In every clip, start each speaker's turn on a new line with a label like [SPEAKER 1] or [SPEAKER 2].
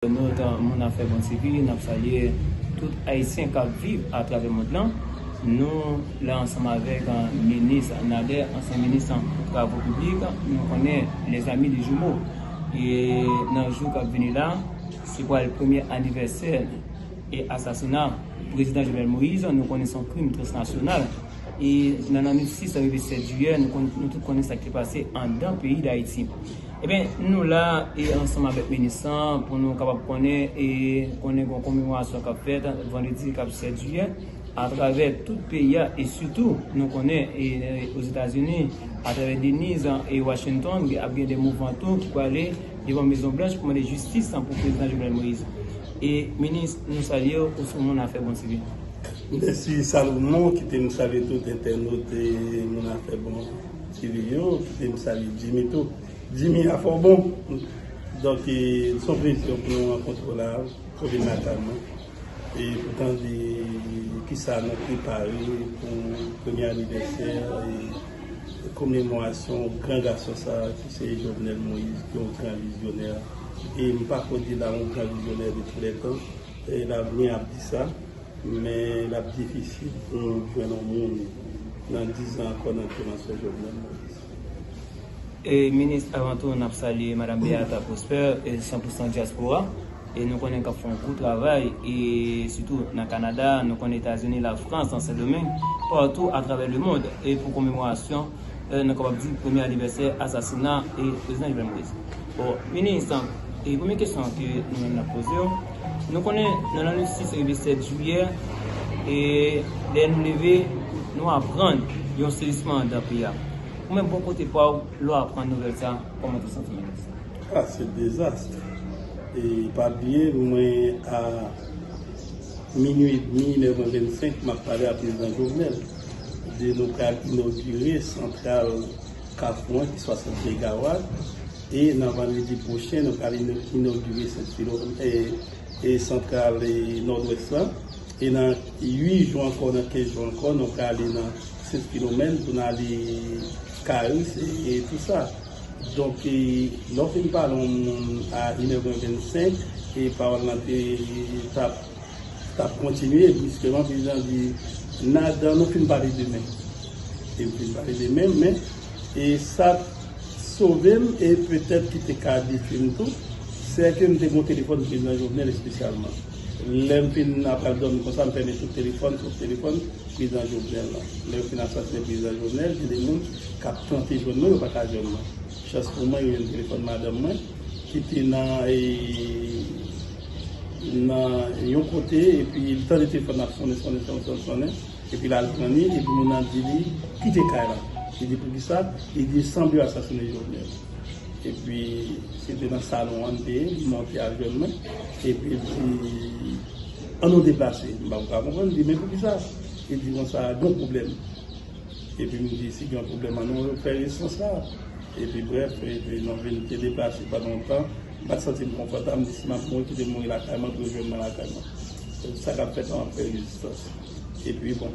[SPEAKER 1] Nou etan moun afè bon ti pi, n ap salye tout Ayisyen k ap viv atravè mond lan. Nou la ansanm avèk minis Nader, ansyen minis travo piblik, nou konnen lèzami li jimo. E nan jou k ap vini la, se pral premye anivèsè e asasina prezidan Jovenel Moïse, nou konnen se yon krim transnasyonal. E nan lanwit 6 rive 7 jiyè, nou tout konnen sa k te pase andan peyi Dayiti. Ebyen nou la e ansanm avèk Minisan pou nou kapab konnen e konnen gon komemorasyon kap fèt vandredi kap 7 jiyè atravè tout peyi a e sitou nou konnen e Ozetazini atravè Deniz e Washington gen ap gen de mouvman tou ki prale devan mezon blanch pou mande jistis pou prezidan Jovenel Moïse e Minis nou salyew ou son moun afè bon sivil. Mèsi
[SPEAKER 2] Salomon, kite m salye tout entènot e moun afè bon. Jimmy yo kite m salye Jimmy tou. Jimmy afè w bon. Donk s on plezi pou nou rankontre w la pou vil natal mwen e pou tande kisa nou prepare pou premye anivèsè e komemorasyon gran gason sa ki se Jovenel Moïse ki yon gran vizyonè e m pako di la yon gran vizyonè de tou lè tan e lavni ap di sa. Men lap difisil pou nou jwenn yon
[SPEAKER 1] moun nan 10 zan ankò nan kouran sou Jovenel Moïse. Minis avan tou nap salye madam Beata Prosper san pou san diaspora e nou konnen kap fè yon gwo travay e sitou nan Canada nou konnen etazini la France nan sendomeng partou atravè le mond e pou komemorasyon nou kapab di premye anivèsè asasina prezidan Jovenel Moïse bon minis premye kesyon ke nou menm nap pozew. Nou konnen nan lane 6 rive 7 jiyè, e lè nou leve, nou aprann yon sezisman andan peyi a. Ou menm bò kote pa w, lè w aprann nouvèl sa, kòman tou santi menm isi? A, se
[SPEAKER 2] dezast. E pa bliye mwen a minui edmi, 9h25, m ap pale a Prezidan Jovenel de nou pral inogire santral. Kafouan ki 60 megawat e nan vandredi pwochen nou pral inogire santral Nòdwès la e nan 8 jou ankò, nan 15 jou ankò nou prale nan Sent Filomèn pou nou ale Karis e tout sa. Donk lè w fin pale yon moun a 1 è mwen 25 e pawòl lan te tap. t ap kontinye briskman prezidan di nad nou fin pale demen e m fin pale demen men e sa t sove m e petèt ki te ka detwi m tou se ke m te gen yon telefòn prezidan Jovenel espesyalman lè m fin ap pral dòmi konsa m fèmen tout telefòn tout telefòn prezidan Jovenel lan lè yo fin asasinen prezidan Jovenel gen de moun k ap tante jwenn mwen yo pa ka jwenn mwen chans pou mwen yo jwenn telefòn madanm mwen ki te nan e. nan yon kote epi li tande telefòn nan ap sonnen sonnen sonnen sonnen sonnen epi l al pran li epi moun nan di li kite kay la li di poukisa li di sanble yo asasine Jovenel epi se te nan salon an li te ye li monte al jwenn mwen epi l di an nou deplase m pa konprann li di men poukisa li di konsa gen pwoblèm epi m di si gen pwoblèm an nou fè resan sa epi brèf epi nou vin te deplase pandan yon tan M pa t santi m konfòtab, m di si m ap mouri kite m mouri lakay mwen pou yo jwenn mwen lakay mwen. Tout sa k ap fèt la m ap fè rezistans. Epi bon,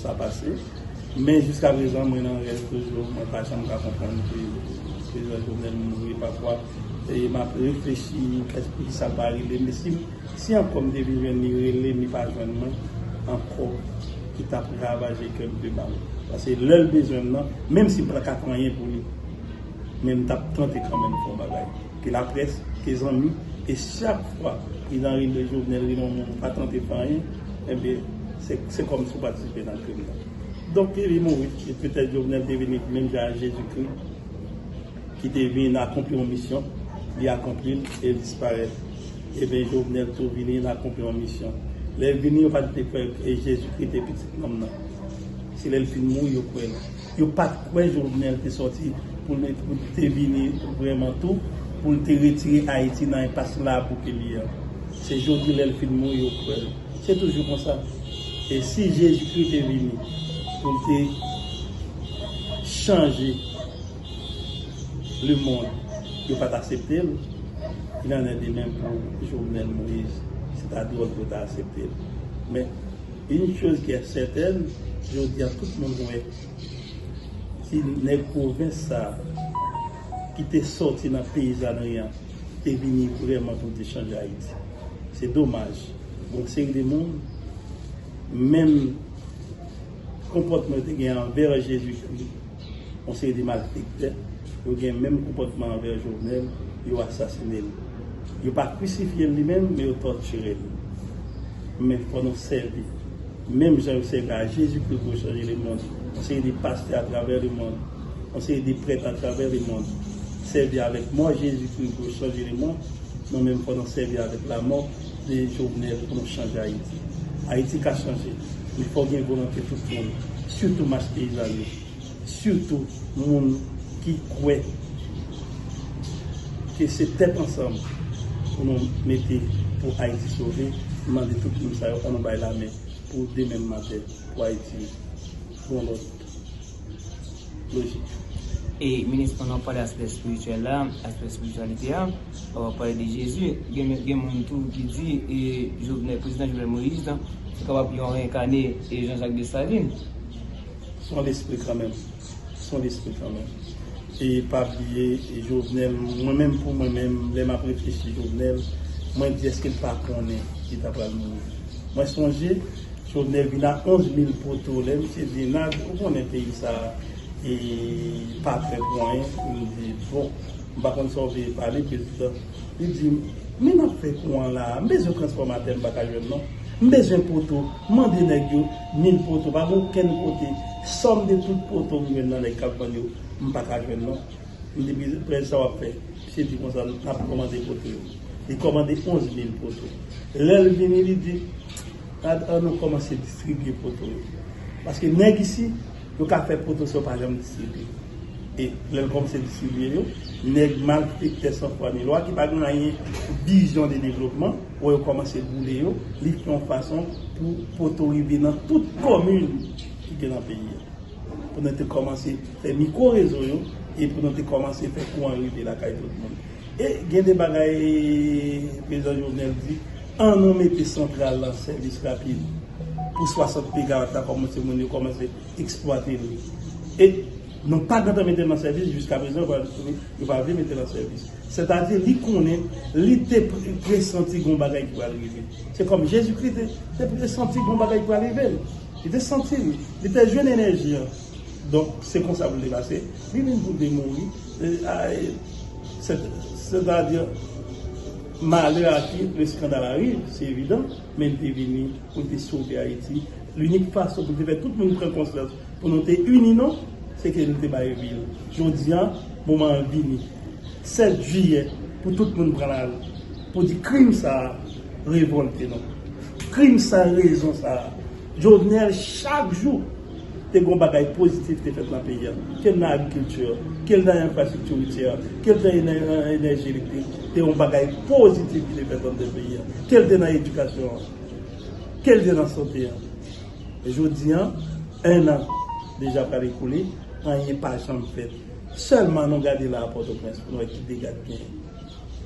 [SPEAKER 2] sa pase. Men jiska prezan mwen nan rèv toujou, mwen pa janm ka konprann ke Prezan Jovenel mouri. Pafwa m ap reflechi kèt poukisa l pa rele m. E si ankò m te vin jwenn li, rele m li pa jwenn mwen ankò ki t ap ravaje kè m pi ba l. Pase lè l bezwen m nan, menm si m pa t ka fè anyen pou li. Men m tap tante kanmenm fè yon bagay ke laprès, ke zanmi, e chak fwa Prezidan Ariel Jovenel rele yon moun pa tante fè anyen, enben se kòmsi w patisipe nan krim nan. Donk li vin mouri, e petèt Jovenel te vini menm jan ak Jezikri ki te vin akonpli yon misyon, li akonpli l e l disparèt. Enben Jovenel tou vini, l akonpli yon misyon. Lè l vini yo pa te kwè Jezikri te Pitit Nonm nan. Se lè l fin mouri yo kwè l. Yo pat kwè Jovenel te sòti pou l te vini vrèman tou pou l te retire Ayiti nan enpas la pou ke l ye an. Se jodi lè l fin mouri yo kwè l. Se toujou konsa. E si Jezikri te vini pou l te chanje lemond yo pa t asepte l, il en est de même pou Jovenel Moïse. Se ta dwòl pou yo ta asepte l. Men. Une chose qui est certaine, jodi a tout moun wè si nèg pwovens sa a ki te sòti nan peyizanri an te vini vrèman pou l te chanje Ayiti. Se domaj, gen yon seri de moun, menm konpòtman yo te gen anvè Jezikri, Yon seri de malfektè, yo gen menm konpòtman anvè Jovenel, yo asasine l. Yo pa krisifye l li menm, men yo tòtire l. Men fò nou sèvi, menm jan yo sèvi a Jezi Kri pou yo chanje lemond. Yon seri de pastè atravè lemond, yon seri de prèt atravè lemond, sèvi avèk mò Jezi Kri pou yo chanje lemond, men menm fò nou sèvi avèk lamò. de Jovenel pou nou chanje Ayiti. Ayiti ka chanje, men fòk gen volonte tout moun, sitou mas peyizan yo, sitou moun ki kwè ke se tèt ansanm pou nou mete pou Ayiti sove. M mande tout moun sa yo, an nou bay lamen pou demen maten pou Ayiti bon lòt. lojik.
[SPEAKER 1] E minis pandan wap pale aspè espirityèl la, aspè espirityalite a, wap pale de Jezi, gen moun tou ki di e Jovenel, prezidan Jovenel Moïse lan se kapab yon reenkane e Jean Jacques Dessalines.
[SPEAKER 2] Son lespri kanmenm, son lespri kanmenm. E pa bliye e Jovenel, mwen menm pou mwen menm lè map reflechi Jovenel, mwen di eske l pa konnen li ta pral mouri. Mwen sonje. Sou Nervina 11 mil poto lè misye di nad ou konnen peyi sa e pa fè pou anyen m di bon m pa konn sa w vle pale prezidan li di m men nap fè kouran la m bezwen transfòmatè m pa ka jwenn non m bezwen poto m mande nèg yo mil poto pa gen okenn kote sòm de tout poto m jwenn nan nèg kap vann yo m pa ka jwenn non m di prezidan sa wap fè misye di konsa nap kòmande poto yo li kòmande 11 mil poto lè l vini li di. Gad Arnaud komanse distribye poto yo. Paske nèg isi yo ka fè poto sa yo pa janm distribye. E lè l komanse distribye yo, nèg malfektè san fwa ni lwa ki pa gen anyen vizyon de devlopman wè yo komanse boule yo, li fè yon fason pou poto rive nan tout komin ki gen nan peyi a. Pou nou te komanse fè mikwo rezo yo e pou nou te komanse fè kouran rive lakay tout moun. E gen de bagay Prezidan Jovenel di, an nou mete santral la an sèvis rapid pou 60 megawat la kòmanse moun yo kòmanse eksplwate li. E nou pa gentan mete l an sèvis jiska prezan yo pa vle mete l an sèvis. Sètadi li konnen li te presanti gon bagay ki pral rive. Se kòm Jezikri te presanti gon bagay ki pral rive l. Li te santi li. Li te jwenn enèji an. Donk se konsa pou l te pase. Li vin pou l te mouri. Sètadi, malè a ki le skandal ariv, se evidan, men li te vini pou l te sove Ayiti. Linik fason pou l te fè tout moun pran konsyans pou nou te ini nou, se ke li te bay vi l. Jodi a, moman an vini. 7 jiyè pou tout moun pran lari pou di krim sa a revòlte nou. Krim sa a, rezon sa a. Jovenel chak jou. Te gon bagay pozitif ki te fèt nan peyi a, ke l nan agrikilti, ke l nan enfrastrikti woutyè, ke l te nan enèji elektrik, te yon bagay pozitif ki te fèt nan tèt peyi a, ke l te nan edikasyon an, ke l te nan sante an. Jodi an, 1 an deja pral ekoule, anyen pa janm fèt. Sèlman nou gade la a Pòtoprens pou nou wè ki dega ki genyen.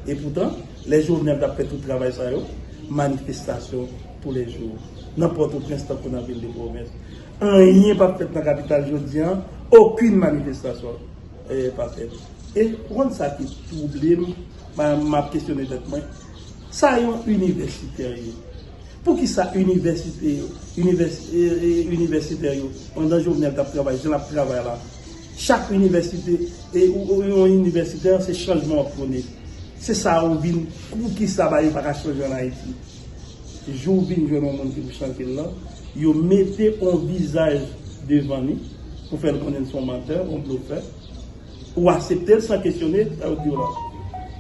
[SPEAKER 2] Epoutan, lè Jovenel t ap fè tout travay sa yo, manifestasyon, tou lè jou, nan Pòtoprens tankou nan vil de pwovens. Anyen pa p fèt nan kapital jodi an, okin manifestasyon pa fèt. E ou konn sa ki twouble m, m ap kesyone tèt mwen, sa yon inivèsitè ye? Pou ki sa inivèsite yo, inivèsitè yo, pandan Jovenel t ap travay jan l ap travay la, chak inivèsite, e ou yon inivèsitè, se chanjman w ap pwone. Se sa ou vin, pou ki sa ba yo pa ka chanje an Ayiti? Jou w vin jwenn yon moun ki pou chante l lan, yo mete yon vizaj devan li pou fè l konnen l se yon mantè, yon blofè. Ou asepte l san kesyone sa yo di w lan.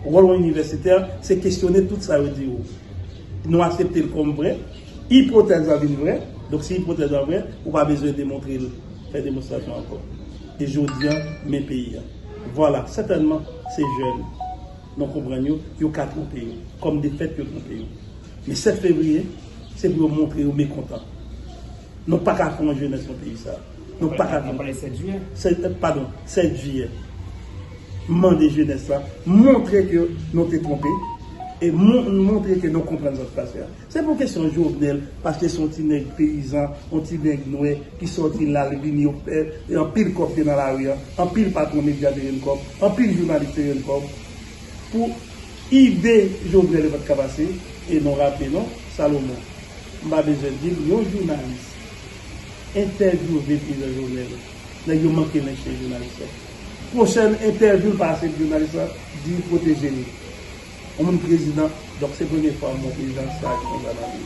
[SPEAKER 2] Wòl yon inivèsitè, se kesyone tout sa yo di w. Nou asepte l kòm vrè. Ipotèz la vin vrè. Donk si ipotèz la vrè, ou pa bezwen demontre l, fè demonstrasyon ankò. E jodi a, men peyi a. Vwala, sètènman, se jèn. Nou konprann yo, yo ka twonpe yo. Kòm de fèt yo twonpe yo. Men 7 fevriye, se pou yo montre yo mekontan. Nou pa ka pran jenès nan peyi sa. Nou pa ka. Mwen pale 7 jiyè.
[SPEAKER 1] Padon, 7
[SPEAKER 2] jiyè. M mande jenès la, montre ke nou te twonpe. E montre ke nou konprann sa ki pase a. Se pou kesyon Jovenel paske son ti nèg peyizan, on ti nèg nwè ki sòti lal vini yo pè e anpil kòb te nan lari an, anpil patron media te jwenn kòb, anpil jounalis te jwenn kòb pou ide Jovenel yo pat ka pase e non raple non Salomon m pa bezwen dil yon jounalis entèvyouve prezidan Jovenel nèg yo manke nen chen jounalis lan pwochèn entèvyou l pa ase pou jounalis lan di kote jeni. Yon moun prezidan donk se premye fwa mwen wè jan saj konsa nan peyi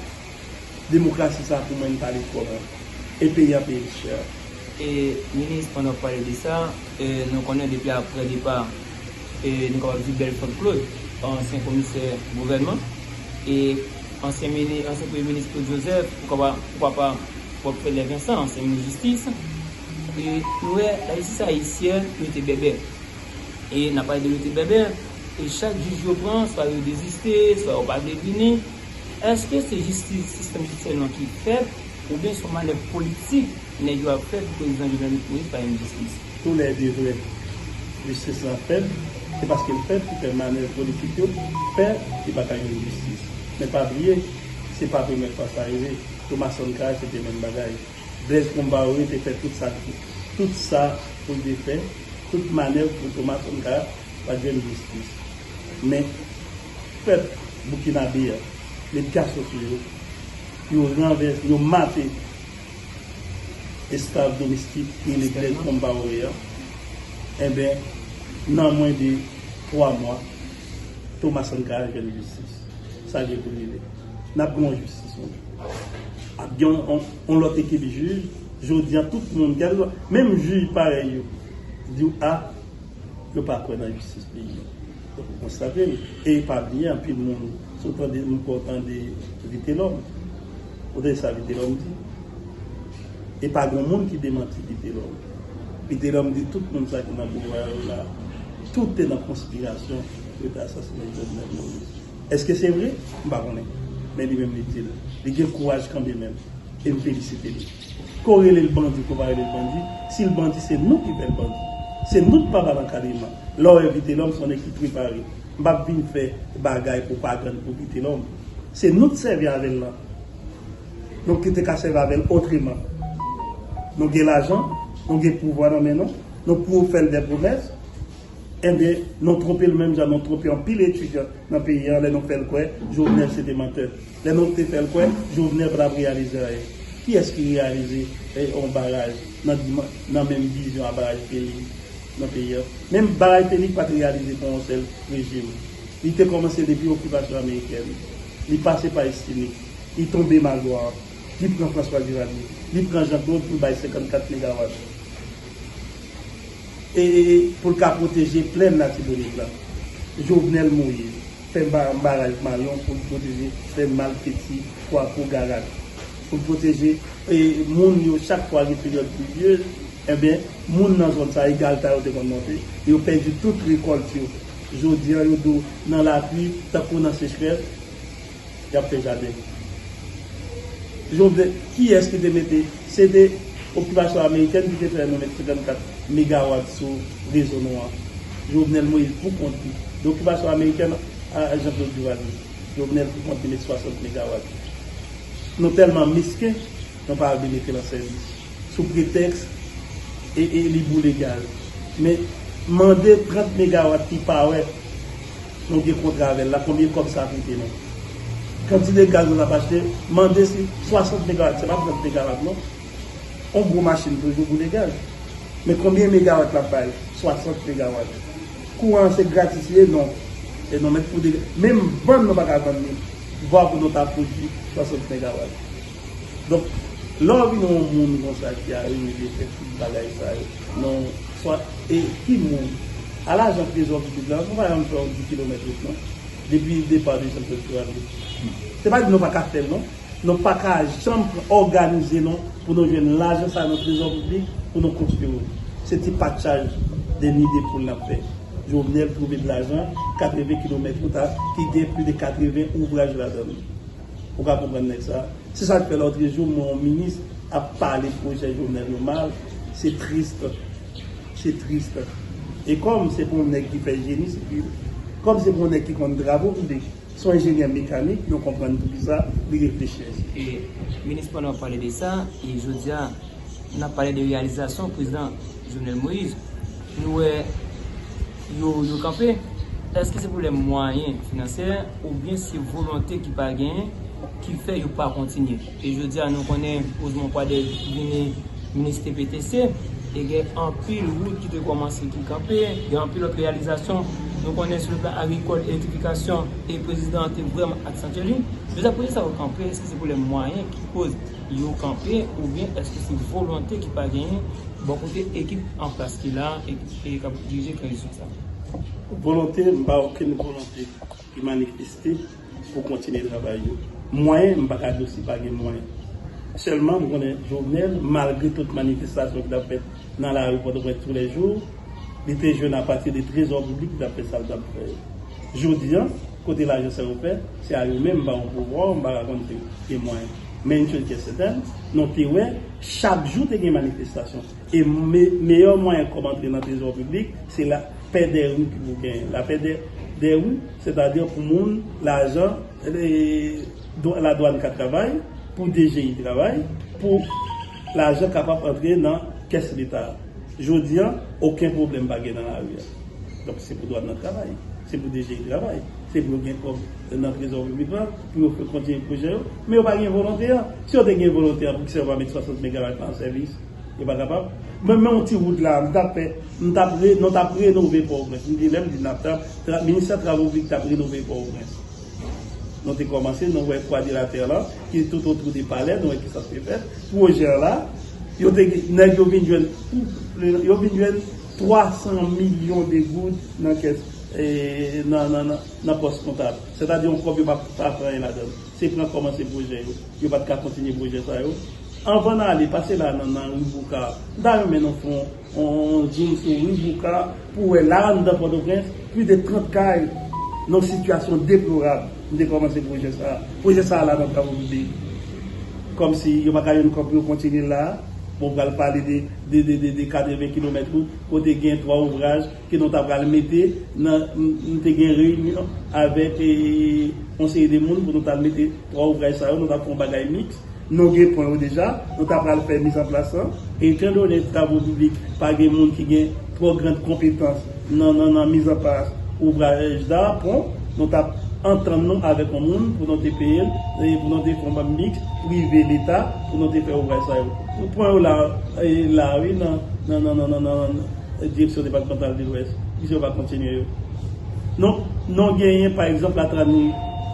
[SPEAKER 2] demokrasi sa pou mwen n pale twò mwen e peyi an peye l chè. E
[SPEAKER 1] minis pandan wap pale de sa e nou konnen depi aprè depa e nou kapab di Belfort Claude ansyen komisè gouvènman e ansyen mini ansyen premye minis Claude Joseph pou kaba pou papa wap fè lè Vincent ansyen minis jistis e nou wè lajistis ayisyèn rete bèbè e nap pale de rete bèbè. E chak jij yo pran, swa yo deziste, swa yo pa vle vini. Eske se jistis, sistèm jidisyè nou an ki fèb, oubyen son manèv politik nèg yo ap fè pou prezidan Jovenel Moise pa jwenn jistis? Tou lè 2 vre.
[SPEAKER 2] Jistis la fèb, se paske l fèb ki fè manèv politik yo fè li pa ka jwenn jistis. Men pa bliye, se pa premye fwa sa rive. Pou Mason Kay se te menm bagay. Blaise Compaoré te fè tout sa l te tout sa pou l te fè, tout manèv pou Thomas Sankara pa t jwenn jistis. Men, pèp boukinabe a met gason sou yo, yo ranvèse, yo mate esklav domestik ki rele Blaise Compaoré a. Enben, nan mwen de twa mwa, Thomas Sankara jwenn jistis. Sa gen pou rive. N ap gen yon jistis yon jou. Ap gen yon lòt ekip jij. Jodi a tout moun, kèlkeswa, menm jij parèy yo di w a yo pa kwè nan jistis peyi a. Donk ou konstate l. E pa bliye anpil moun, si w tande, nou kwè w tande Vitelòm. Ou tande sa Vitelòm di? E pa gen yon moun ki demanti Vitelòm. Vitelòm di tout moun sa ki nan pouvwa yo la, tout te nan konspirasyon. Yo te asasinen Jovenel Moïse. Eske se vre? M pa konnen. Men li menm li di l. Li gen kouraj kanbe menm. E m felisite li. Ke w rele l bandi, ke w pa rele l bandi, si l bandi se nou ki fè l bandi. Se nou ki pa ba l ankadreman. Lè w wè Vitelòm, se yon nèg ki prepare. M pa p vin fè bagay pwopagann pou Vitelòm. Se nou ki sèvi avè l lan. Nou ki te ka sèvi avè l otreman. Nou gen lajan, nou gen pouvwa nan men nou, nou pou fè l dè pwomès. Enben, nou twonpe l menm jan nou twonpe anpil etidyan nan peyi an lè nou fè l kwè Jovenel se te mantè. Lè nou te fè l kwè Jovenel pa t ap reyalize anyen. Kiyès ki reyalize yon baraj nan menm vizyon a baraj Felix nan peyi an? Menm baraj Felix pa t reyalize pou yon sèl rejim. Li te kòmanse depi okipasyon amerikèn. Li pase pa Estime. Li tonbe Magloire. Li pran François Duvalier. Li pran Jean Claude pou l bay 54 megawat. e pou l ka pwoteje plèn Latibonit la. Jovenel Moïse fè baraj Mayon pou l pwoteje plèn Malfety, Kwakou, Garat. Pou l pwoteje e moun yo chak fwa gen peryòd plivyez, enben, moun nan zòn sa e galta yo te konn monte, yo pèdi tout rekòlt yo. Jodi an yo do nan lapli tankou nan sechrès. Yap fè jaden. Jovenel kiyès ki te mete se te okipasyon amerikèn ki te fè nou met 54 megawat sou rezo nou an Jovenel Moïse pou kont li de okipasyon amerikèn a Jean Claude Duvalier Jovenel pou kont li met 60 megawat nou tèlman mesken nou pa vle mete l an sèvis sou pretèks e li boule gaz men mande 30 megawat ki pa wè. Nou gen kontra avèl la konbyen kòb sa koute nou? Kantite gaz nou tap achte mande si 60 megawat se pa 30 megawat non yon gwo machin toujou boule gaz men konbyen megawat lap bay 60 megawat kouran an se gratis li ye non e nou mèt pou menm vann nou paka vann li vwa pou nou ta pwodwi 60 megawat. Donk, lè w vin yon moun konsa ki arive vin fè tout bagay sa yo nan yon swat e ki moun? A la jan trezò pitit la, nou pa janm fè yon ti kilomèt wout non. Depi depa de Santral pou ale. Se pa di nou pa ka fè l non. Nou pa ka janm òganize nou pou nou jwenn lajan sa nan trezò piblik pou nou konstwi wout. Se ti patchaj de ni de poul n ap fè. Jovenel twouve de lajan 80 kilomèt wout a ki gen plis de 80 ouvraj ladan l. Ou ka konprann nèg sa. Se sak fè lòtrejou m wè yon minis ap pale pwojè Jovenel yo mal, se triste. Se triste. E kòm se pou yon nèg ki fè jeni sivil, kòm se pou yon nèg ki konn travo piblik, se yon enjenyè mekanik, nou konprann poukisa li reflechi ansi. E
[SPEAKER 1] minis pandan wap pale de sa, e jodia nap pale de reyalizasyon prezidan Jovenel Moïse, nou wè. yo yo kanpe, èske se pwoblèm mwayen finansè oubyen se volonte ki pa genyen ki fè yo pa kontinye? E jodi a nou konnen Ousmon Kwadèz vini minis TPTC e gen anpil wout ki te kòmanse ki kanpe, gen anpil lòt reyalizasyon nou konnen sou le plan agrikòl, elektrifikasyon e prezidan an te vrèman aksantye li. Men sa pwoje sa yo kanpe, èske se pwoblèm mwayen ki koz yo kanpe oubyen èske se volonte ki pa genyen bò kote ekip anplas ki la a? Se yo kap jije tranzisyon sa. Volonte m
[SPEAKER 2] pa okenn volonte ki manifeste pou kontinye travay yo. Mwayen m pa ka di si pa gen mwayen. Sèlman m konnen Jovenel malgre tout manifestasyon ki tap fèt nan lari Pòtoprens tou lè jou, li te jwenn apati de trezò piblik li tap fè sa li tap fè yo. Jodi an, kote lajan sa yo fè, se a yo menm m pa o pouvwa m pa ka konn si gen mwayen. Men yon chòz ki sètèn, nou te wè chak jou te gen manifestasyon. E meyè mwayen kòb antre nan trezò piblik, se la pè dè ri ki pou genyen. La pè dè ri, sètadi pou moun, lajan, la dwann ka travay, pou DGI travay, pou lajan kapab antre nan kès leta. Jodi an, oken pwoblèm pa gen nan la ri a. Donk se pou dwann nan travay, se pou DGI travay, se pou yo gen kòb nan trezò piblik la, pou yo fè kontinye pwojè yo. Men yo pa gen volonte an. Si yo te gen volonte an, poukisa yo pa met 60 megawat la an sèvis? Yo pa kapab. Mwen menm ti wout la, m tap fè, m tap re, non tap renove Pòtoprens. M te menm di nap tap, tra, ministè travo piblik tap renove Pòtoprens. Nou te kòmanse, nou wè kwadilatè lan, ki tout otou de palè, nou wè kisa k te fèt. Pwojè an la, yo te gen, nèg yo vin jwenn, yo vin jwenn 300 milyon de goud nan kès, nan, nan, nan, nan pòs kontab. Sètadi yon kòb yo pa, pa pran anyen ladann. Se pran kòmanse pwojè yo. Yo pat ka kontinye pwojè sa yo. Anvan n ale, pase la nan nan Ri Bouka. M ta renmen nou fè yon zoom sou Ri Bouka pou wè la anndan Pòtoprens, plis de 30 kay nan yon sitiyasyon deplorab. M te kòmanse pwojè sa a. Pwojè sa a la nan travaux publics. Kòmsi yo pa ka jwenn kòb pou yo kontinye l la a. Bon, pral pale de 80 kilomèt wout kote gen 3 ouvraj. ke nou ta pral mete nan nou te gen reyinyon avèk yon seri de moun pou nou ta mete 3 ouvraj sa yo nou ta fè yon bagay miks nou gen pwen yo deja nou ta pral fè mizanplas lan etandone travo piblik pa gen moun ki gen twò grand konpetans nan nan nan mizanplas ouvraj da pon nou ta antann nou avèk yon moun pou nou te peye l e pou nou te fè yon bank miks prive leta pou nou te fè ouvraj sa yo pwen yo la la wi nan nan nan nan nan nan. Direksyon Depatmantal de Lwès, plizyè pa kontinye yo. Non, non genyen pa egzanp Latrani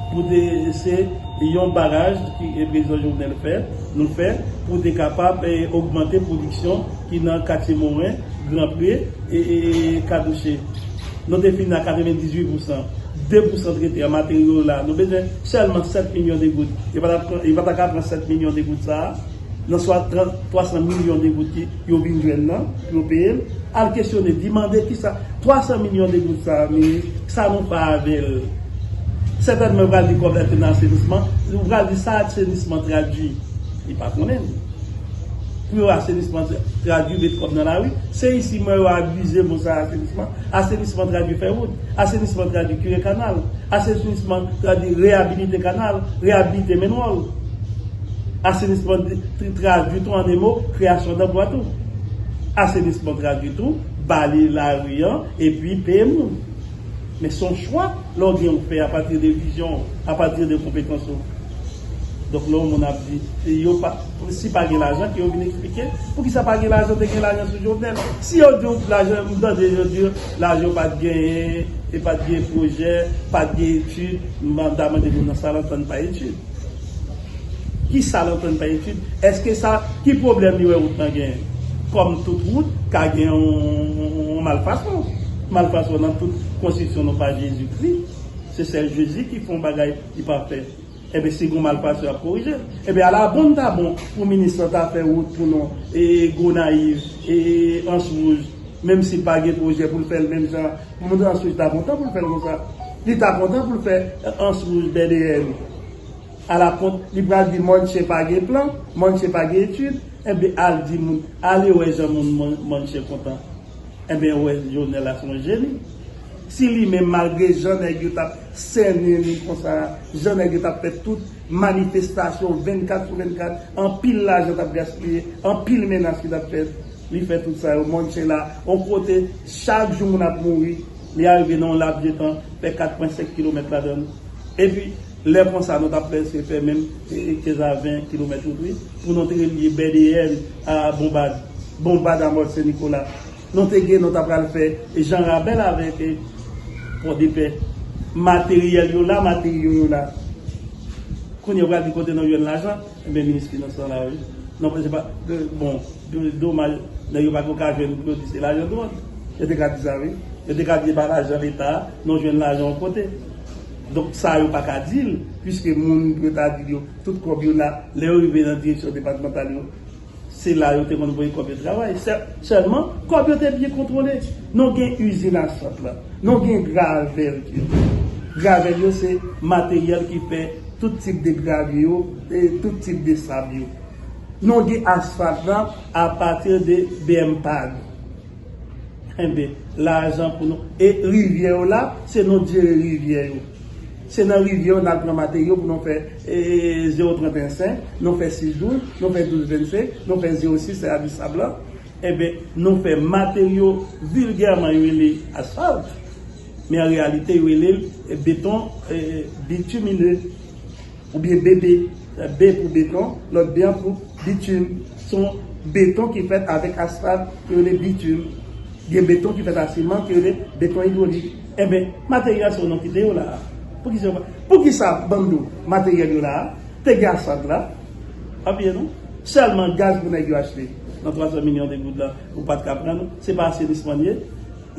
[SPEAKER 2] pou te se yon baraj ki Prezidan Jovenel fè, nou fè pou te kapab ogmante pwodiksyon ki nan katye Moren, Gran Pre e Kadouche. Nou te fin a 98 pousan. 2 pousan t rete an materyo yo la. Nou bezwen sèlman 7 milyon de goud. Yo pa ta ka pran 7 milyon de goud sa a nan swa 300 milyon de goud ki. yo vin jwenn nan pou yo peye l, al kesyone li, mande kisa 300 milyon de goud sa a vini, sa nou fè avè l. Sètènman yo pral di kòb la te nan asenisman, yo pral di sa asenisman tradui, li pa konnen li. Pou yo asenisman tradui met kòb nan lari, se isi m wè yo abize mo sa asenisman, asenisman tradui fè wout, asenisman tradui kire kanal, asenisman tradui reyabilite kanal, reyabilite menwòl, asenisman. Tri tradui tou an emo, kreyasyon danplwa tou. Asenisman tradui tou, bale lari an epi peye moun. Men se yon chwa lè w gen ou fè apati de vizyon w, apati de konpetans ou. Donk lè yon moun ap di yo pa, si pa gen lajan ke yo vin eksplike poukisa pa gen lajan, te gen lajan sou Jovenel. Si yo di w lajan, m tande yo di lajan yo pat genyen, e pat gen pwojè, pat gen etid, m ta mande moun nan sa l antann pa etid. Ki sa lè w konn fè etid? Eske sa, ki pwoblèm li wè wout lan genyen? Kòm tout wout ka gen yon malfason. Malfason nan tout konstriksyon non pa Jezi Kri. Se sèl Jezi ki fè yon bagay ki pafè. Enben si gen malfason y ap korije l. Enben ala bon li ta bon pou minis lan ta fè wout pou nou e Gonayiv e Answouj menm si l pa gen pwojè pou l fè l menm jan. Moun Answouj ta kontan pou l fè l konsa. Li ta kontan pou l fè Answouj, Bèdeyèn. Ala kont li pral di mòn chen pa gen plan, mòn chen pa gen etid, enben al di moun, ale wè jan moun mòn chen kontan. Enben ou wè Jovenel la se yon jeni. Si li menm malgre jan nèg yo tap sènen li konsa, jan nèg yo tap fè tout manifestasyon 24 sou 24, anpil lajan tap gaspiye, anpil menas ki tap fèt, li fè tout sa yo, mòn chen la yon kote chak jou moun ap mouri, li arive nan yon laps de tan fè 4 pwen 5 kilomèt ladann. Epi lè konsa nou tap prèske fè menm 15 a 20 kilomèt wout wi, moun an te rele li Bèdeyèn a Bonbad, Bonbad a Mòt Sen Nikola. Nou te gen nou ta pral fè Jan Rabèl avèk Pòdepè. Materyèl yo la, materyo yo la. Kounye a ou pral di kote nou jwenn lajan, enben minis finans lan la wi. Non pa se pa, bon, domaj nèg yo pa ko ka jwenn pou yo di se lajan dwòg. Yo te ka di sa wi. Yo te ka di se pa lajan leta, nou jwenn lajan yon kote. Donk sa yo pa ka di l, puiske moun yo ta di l yo, tout kòb yo la, lè yo rive nan direksyon depatmantal yo, se la yo te konn voye kòb yo travay. Sèlman, kòb yo te byen kontwole. Non gen izin asfalt la, non gen gravèl ki la. Gravèl yo se materyèl ki fè tout tip de gravye yo, tout tip de sab yo. Non gen asfalt la apati de BMPAG. Enben, lajan pou nou. E rivyè yo la, se nou k jere rivyè yo. Se nan rivyè yo n al pran materyo pou nou fè zewo trant en sen, nou fè sis douz, nou fè douz vensen, nou fè zewo sis se avi sab lan. Enben, nou fè materyo vilgèman yo rele asfalt, men an reyalite yo rele l beton bitumine. Oubyen BP, B pou beton, lòt B an pou bitum. Se yon beton ki fèt avèk asfalt ke yo rele bitum. Gen beton ki fèt a siman ke yo rele beton idwolik. Enben, materyèl sa yo nou kite yo la a. Poukisa yo pa. Poukisa Bando, materyèl yo la a? Te gen asfalt la? Pa bliye non, sèlman gaz pou nèg yo achte nan 300 milyon de goud la, ou pa t ka pran non. Se pa asenisman li ye.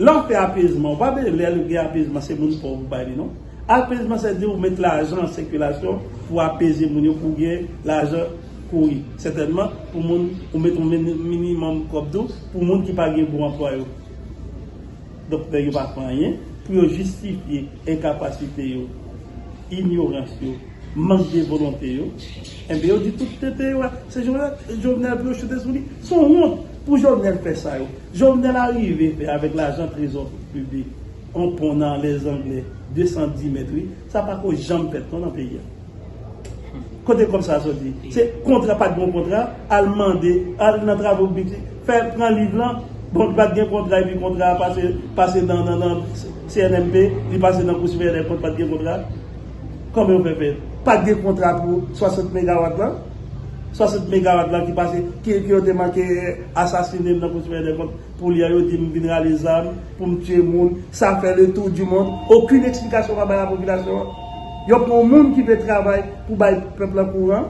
[SPEAKER 2] Lè w fè apezman, ou pa vle lè l gen apezman se moun pòv ou bay li non. Alpes mwen se di ou met lajan an sikilasyon pou apeze moun yo pou gen lajan kouri. Sètènman pou moun ou met yon minimòm kòb tou pou moun ki pa gen gwo anplwa yo. Donk nèg yo pa fè anyen pou yo jistifye enkapasite yo, inyorans yo, mank de volonte yo. Enben yo di tout tenten yo a se Jovenel pou yo choute sou li. Se yon wont pou Jovenel fè sa yo Jovenel arive fè avèk lajan trezò piblik. On pon nan lè zangle 210 mèt wi. Sa pa ko janm fèt non nan peyi a. Kote kòb sa a soti? Se kontra pat gen on kontra, al mande, al nan travo piblik, fè pran liv lan, bon li pat gen kontra epi kontra a pase pase nan nan CNMP, li pase nan kou sipèryè dè kont pat gen kontra. Kòman yo fè fè? Pat gen kontra pou 60 megawat lan? 60 megawat lan ki pase ki yo te manke asasine nan kou sipèryè dè kont. Polyan yo di m vin rale zam pou m tiye moun, sa fè le tour du monde, okenn eksplikasyon pa bay a popilasyon an. Yo pran yon moun ki vle travay pou bay pèp la kouran,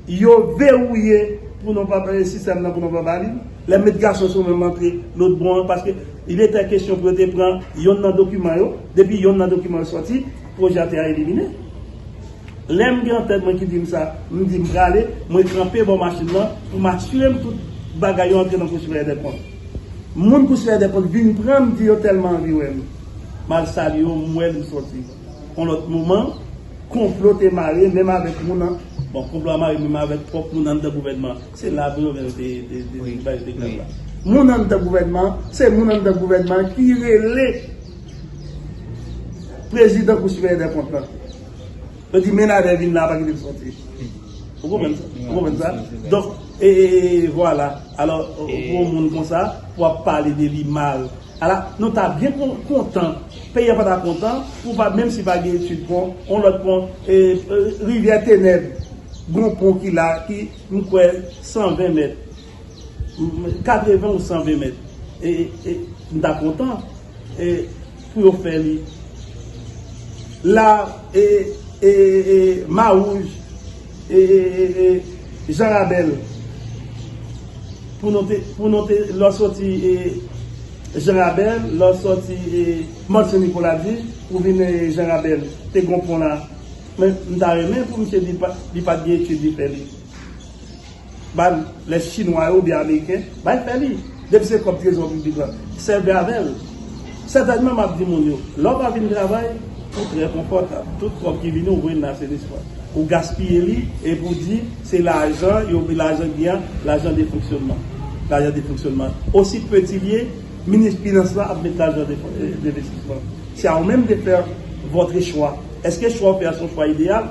[SPEAKER 2] yo vewouye pou nou pa bay sistèm nan pou nou pa ba li, lè met gason sou menm antre lôt bò an paske il etè kesyon pou yo te pran yonn nan dokiman yo, depi yonn nan dokiman yo sòti, pwojè a te a elimine. Lè m gen antèn mwen ki di m sa, m di m prale, mwen kanpe bò machin lan pou m asire m tout bagay yo antre nan kou siveyè dèkont. Moun kou siveyè dèkont vin pran m di yo tèlman anvi wè m. M al salye yo, m wè l, m sòti. On lòt moman, konplo te mare menm avèk moun an, bon konplo a mare menm avèk pwòp moun anndan gouvènman an. Se la vre oubyen yo te ba yo te klè la? Moun anndan gouvènman an, se moun anndan gouvènman an ki rele prezidan kou siveyè dèkont lan. Yo di menadè vin la pa kite m soti. Ou konprann sa? Ou konprann sa? Donk, e, e, e, e, vwala. Alò, pou yon moun konsa, pou w ap pale de li mal. Ala, nou ta byen kontan, peyi a pa ta kontan, pou pa, menm si pa gen etid pon, yon lòt pon, e, e, rivyè Tenèb, gon pon ki la, ki, m kwè, 120 mèt. 80 ou 120 mèt e m ta kontan e pou yo fè li la e e e ma wouj e e e e jan rabèl pou nou te pou nou te lò soti e jan rabèl lò soti e manche ni pou la di pou vin e jan rabèl te gonpon la men m ta remen pou m se li pat li pat di e ki di fè li. Ba l lè chinwa yo oubyen ameriken bay fè li. Depi se kòb trezò piblik la, sèvi avè l. Sètènman m ap di moun yo, lè w pa vin travay, ou trè konfòtab. Tout kòb ki vini ou voye nan asenisman. Ou gaspiye li epi ou di se lajan yo lajan ki gen an, lajan de fonksyònman. Lajan de fonksyònman. Osi peti l ye, minis finans la ap met lajan de envestisman. Se a ou menm de fè vòtre chwa. Eske chwa w fè a se yon chwa ideyal?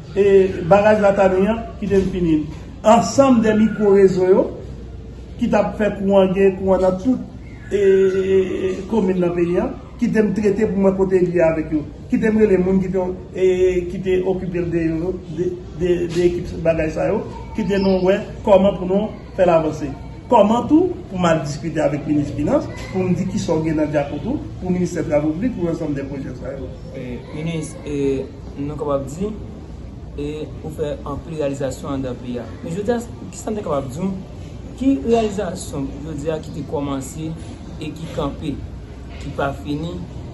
[SPEAKER 2] E baraj la ta ni an, kite m fini l. Ansanm de mikwo rezo yo ki t ap fè kouran gen kouran nan tout komin nan peyi an, kite m trete pou mwen kote li ye avèk yo. Kite m rele moun ki te okipe l de ekip bagay sa yo, kite nou wè kòman pou nou fè l avanse. Kòman tou pou m al diskite avèk minis finans pou m di ki sa w gen nan dyakout ou pou ministè travo piblik pou ansanm de pwojè sa yo. Minis,
[SPEAKER 1] e. Nou kapab di, E ou fè anpil reyalizasyon anndan peyi a. Men jodi a, ki sa n te kapab di w? Ki reyalizasyon jodi a ki te kòmanse e ki kanpe, ki pa fini?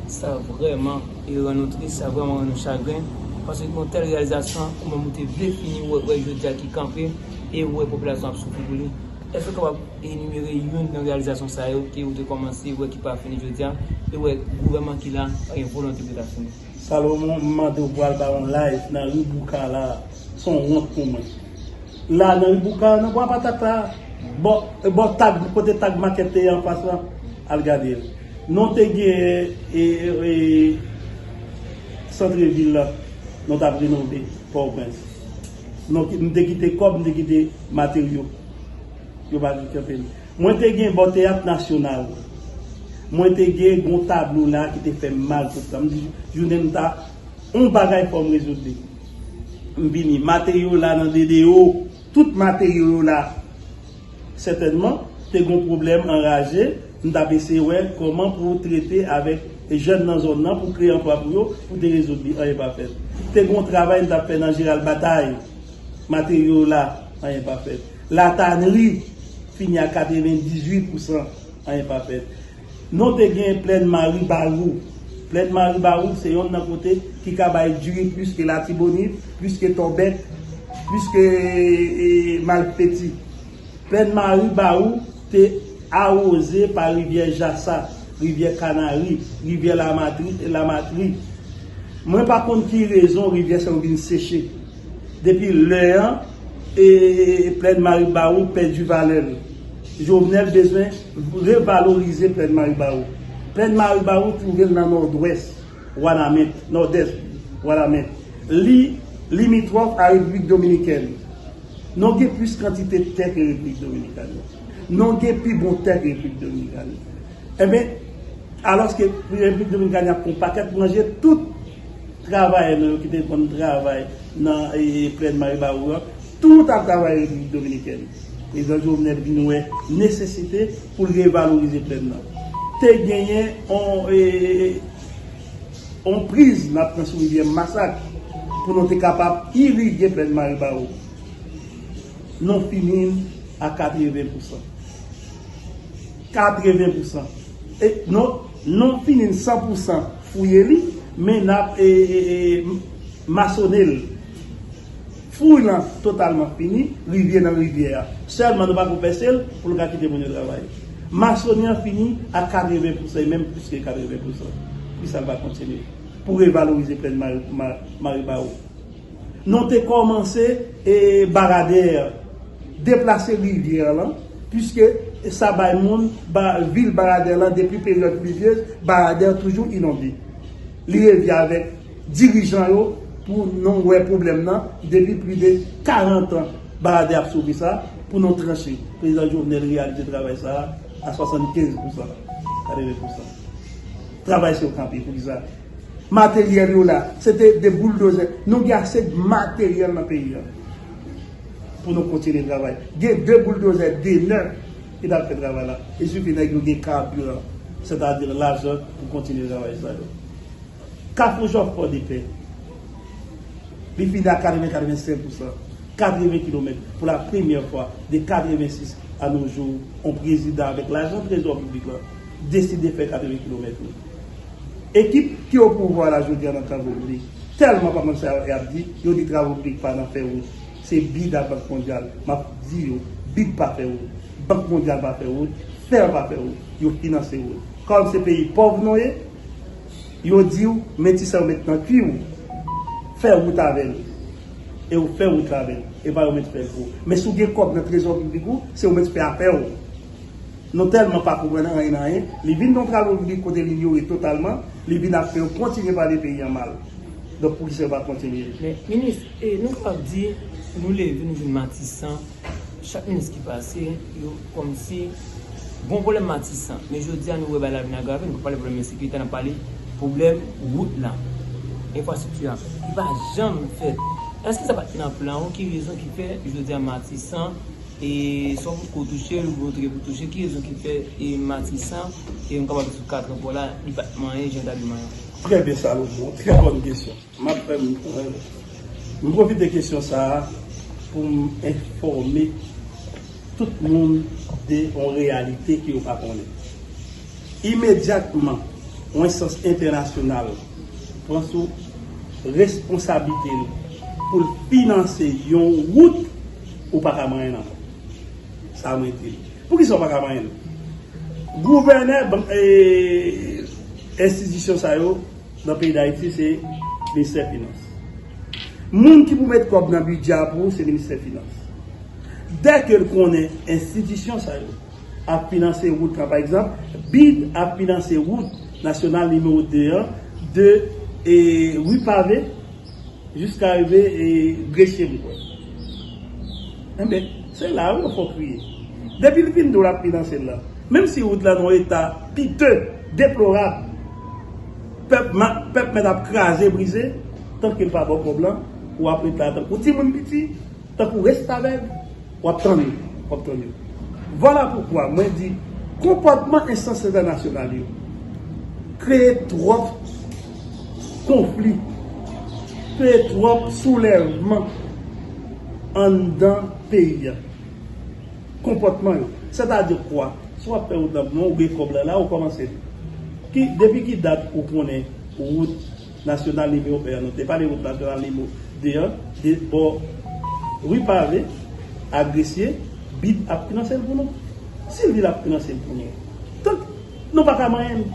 [SPEAKER 1] Sa vrèman rann nou tris, sa vrèman rann nou chagren, paske gen yon tèl reyalizasyon ou menm ou te vle fini ou wè jodi a ki kanpe e ou wè popilasyon ap soufri pou li. Èske ou kapab enimere youn nan reyalizasyon sa yo ke ou te kòmanse wè ki pa fini jodi a e ou wè gouvènman ki la pa gen volonte pou l ta fini? Salomon m mande
[SPEAKER 2] w pral ba yon live nan ri bouka la son wont pou mwen la nan ri bouka nan bwa patat la bò bò tag kote tag market te ye anfas la al gade l non te gen e centre ville la non tap renove pòwprens non m te kite kòb m te kite materyo yo pa kite anpil. Mwen te gen bò teyat nasyonal la. Mwen te gen gon tablo la ki te fè m mal tout tan. M di jounen m ta on bagay fò m rezoud li. M vini. Materyo yo la nan DDO. Tout materyo yo la. Sètènman, te gon pwoblèm anraje. M t ap eseye wè kòman pou trete avèk jèn nan zòn nan pou kreye anplwa pou yo, pou te rezoud li. Anyen pa fèt. Te gon travay m t ap fè nan Jeral Batay. Materyo yo la. Anyen pa fèt. La Tannerie fini a 98 pousan, anyen pa fèt. Non te gen Plèn Mari Barou. Plèn Mari Barou se yonn nan kote ki ka bay diri plis ke Latibonit, plis ke Tòbèk, plis ke Malpeti. Plèn Mari Barou te awoze pa Rivyè Jasa, Rivyè Kanari, Rivyè Lamatri. Mwen pa konn ki rezon rivyè sa yo vin seche. Depi lè an e plèn Maribawou pèdi valè l. Jovenel bezwen revalorize plèn Maribawou. Plèn Maribawou twouve l nan nòdwès Wanament, nòdès Wanament. Li limitròf a Repiblik Dominikèn. Non gen plis kantite tè ke Repiblik Dominikani. Non gen pi bon tè ke Repiblik Dominikani. Enben, alòske Repiblik Dominikani ap pran pakèt manje tout travayè nou yo ki te konn travay nan plèn Maribawou an, tout ap travay Repiblik Dominikèn, Prezidan Jovenel vin wè nesesite pou l revalorize plèn nan. Te genyen yon priz n ap pran sou rivyè Masak pou nou te kapab irige plèn Maribawou. Nou fini l a katreven pousan. 80 pousan et non non finin 100 pousan fouye li men nap e masone l fouy lan totalman fini rivye nan rivyè a selman nou pako pèse l pou l ka kite moun yo travay masone an fini a 80 pousan e menm plis ke 80 pousan poukisa l pa kontinye pou revalorize plèn maribawou. Nou te kòmanse barade a, deplase rivyè a lan, piske sa bay moun vil Baradè lan depi peryòd plivyez, Baradè a toujou inonde. Li revi avèk dirijan yo pou nou wè pwoblèm nan, depi pli de 40 an Baradè ap soufri sa, pou nou tranche. Prezidan Jovenel reyalize travay sa a 75 pousan, 80 pousan. Travay sou kanpe, poukisa? Materyèl yo la, se te 2 bouldozè. Nou gen ase materyèl nan peyi a pou nou kontinye travay. Gen 2 bouldozè demè ki ta fè travay la. Li sifi nèg yo gen kabiran, sètadi lajan pou kontinye travay sa yo. Kafou Jòf Pòdepè, li fini a 80, 85 pousan, 80 kilomèt pou la premyè fwa de 86 a no jou yon prezidan avèk lajan trezò piblik la deside fè 80 kilomèt yo. Ekip ki o pouvwa la jodia nan travo piblik telman pa konn sa yo ap di, yo di travo piblik pa nan fè wout, se bid a bank mondyal, map di yo, bid pa fè wout, bank mondyal pa fè wout, fer pa fè wout, yo finanse wout, kòm se peyi pòv nou ye, yo diw men ti sa yo met nan kwi ou fè wout avèl, e ou fè wout la avèl, epa yo met fèl pou ou, men si w gen kòb nan trezò piblik ou, se ou met fè afè ou. Nou tèlman pa konprann anyen nan anyen, li vin yon tralodri kote li inyore totalman, li vin ap fè yo kontinye pale peyi an mal. Donk pou ki sa yo pa kontinye? Men, minis, e
[SPEAKER 1] nou kapab di, nou leve nou vin matisan, chak minis ki pase, yo kòmsi bon pwoblèm matisan. Men jodi a nou wè bagay la vin agrave, nou pa pale pwoblèm ensekirite, n ap pale pwoblèm wout lan, enfrastrikti an, li pa janm fèt. Èske sa pa t nan plan ou? Ki rezon ki fè jodi a matisan? E sò pou ko touche l, volontè gen pou touche, ki rezon ki fè e Matisan e yon kapab viv sou katran pò la, li pa t manyen jan ta dwe manyen? Trè byen Salomon,
[SPEAKER 2] trè bòn kesyon. M ap fè m m pwofite kesyon sa a pou m enfòme tout moun de yon reyalite ke yo pa konnen. Imedyatman yon enstans entènasyonal pran sou responsablite l pou l finanse yon wout, Ou pa ka manyen l ankò. Sa mwen di l. Poukisa ou pa ka manyen l? Gouvènè enstitisyon sa yo nan peyi Dayiti se Ministè Finans. Moun ki pou met kòb nan bidjè a pou ou se Ministè Finans. Dè ke l konnen enstitisyon sa yo ap finanse wout lan, pa egzanp, bid ap finanse wout nasyonal nimewo 2 an de Rue Pavée, Jiska rive e greche m kwè. Enben, se la a wi yo fè w kriye. Depi li fin di w l ap finanse l lan, menm si wout la nan yon eta pite, deplorab, pèp mèt ap kraze brize, tank yo pa ba w kòb lan, ou ap ret la a tankou timoun piti. Tankou restavèg, w ap tann yo, w ap tann yo. Vwala poukwa mwen di konpòtman enstans entènasyonal yo kreye twòp konfli, kreye twòp soulèvman anndan peyi a. Konpòtman yo. Sètadi kwa? Si w ap fè wout nan Bouyon, ou gen kòb la la, ou kòmanse. Depi ki dat ou konnen wout Nasyonal nimewo 1 an nou te pale wout nasyonal nimewo 2 an de bò ri pave a gresye bid ap finanse l pou nou si vil ap finanse l pou nou tank nou pa ka manyen l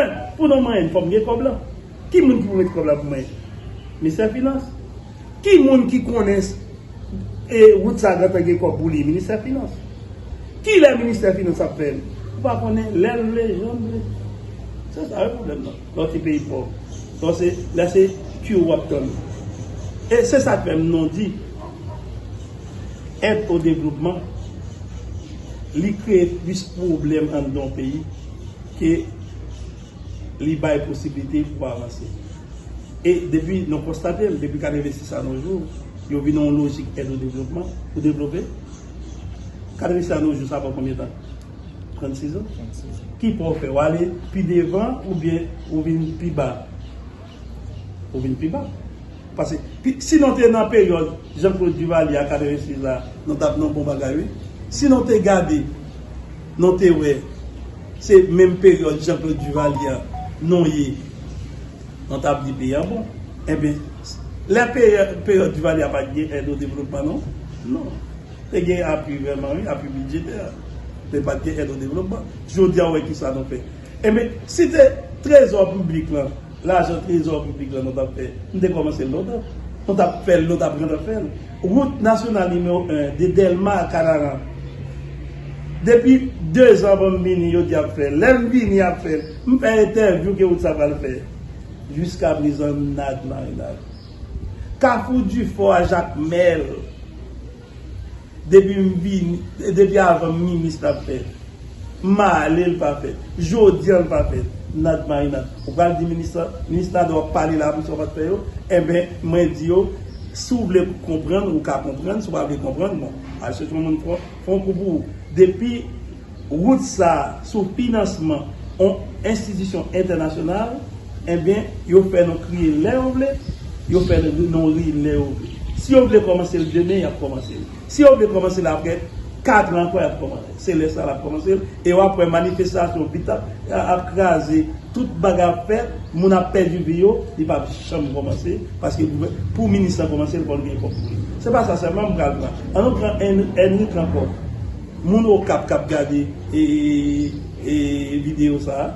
[SPEAKER 2] 1 pou nou manyen l fòk gen kòb lan ki moun ki pou mete kòb la pou manyen l ministè finans ki moun ki konnen s e wout sa gentan gen kòb pou li ministè finans ki lè ministè finans ap fè l ou pa konnen lè l vle jan l vle se sa wi pwoblèm nan. Yon ti peyi pòv. Bon se lè se Q wap tann. E se sak fè m non di èd o devlopman li kreye plis pwoblèm anndan yon peyi ke li bay posiblite pou avanse. E depi nou konstate l depi 86 a no jou yo vin nan yon lojik èd o devlopman pou devlope. 86 a no jou sa fè konbyen tan? 30 season? 30 season. Ki pwa ou fè? Ou ale pi devan ou byen ou vin pi ba? Ou vin pi ba. Pase si nou te nan peryòd Jean Claude Duvalier a 86 la, nou tap nan bon bagay wi. Si nou te gade, nou te wè se menm peryòd Jean Claude Duvalier a nou ye, nou tap di peyi a bon. Enben, lè peryòd Duvalier a pat gen èd o devlopman non? Non. Te gen apui vrèman wi, apui bidjetè, men pat gen èd o devlopman. Jodi a ou wè kisa nou fè. Enben, si te trezò piblik lan, lajan trezò piblik lan nou tap fè, nou te kòmanse l lontan. Nou tap fè l, nou tap gentan fè l. Wout nasyonal nimewo 1, de Dèlma a Kanaran, depi 2 zan anvan m vini yo di yap fè l. Lè m vini yap fè l. M fè entèvyou ke wout sa pral fè. Jiskaprezan nad marinad. Kafou Dufort a Jacmel depi m vini depi avan m minis l ap fèt m ma ale l pa fèt jodi an l pa fèt Nad Marinad ou pral di minis la minis Nadeau ap pale la misye pat fè yo enben mwen di yo si w vle konprann ou ka konprann si w pa vle konprann bon al chèche yon moun k fon kou pou ou depi Rout sa sou finansman on enstitisyon entènasyonal enben yo fè nou kriye lè yo vle, yo fè nou ri lè yo vle. Si yo vle kòmanse l demen y ap kòmanse l. Si yo vle kòmanse l aprè katran ankò y ap kòmanse l. Se lè sa l ap kòmanse l e w ap wè manifestasyon vit ap kraze, tout bagay ap fèt, moun ap pèdi vi yo, li p ap janm kòmanse paske pou minis lan kòmanse l fò l gen kòb pou li. Se pa sa sèlman m pral pran. An nou pran Ènrik ankò. Moun okap kap gade video sa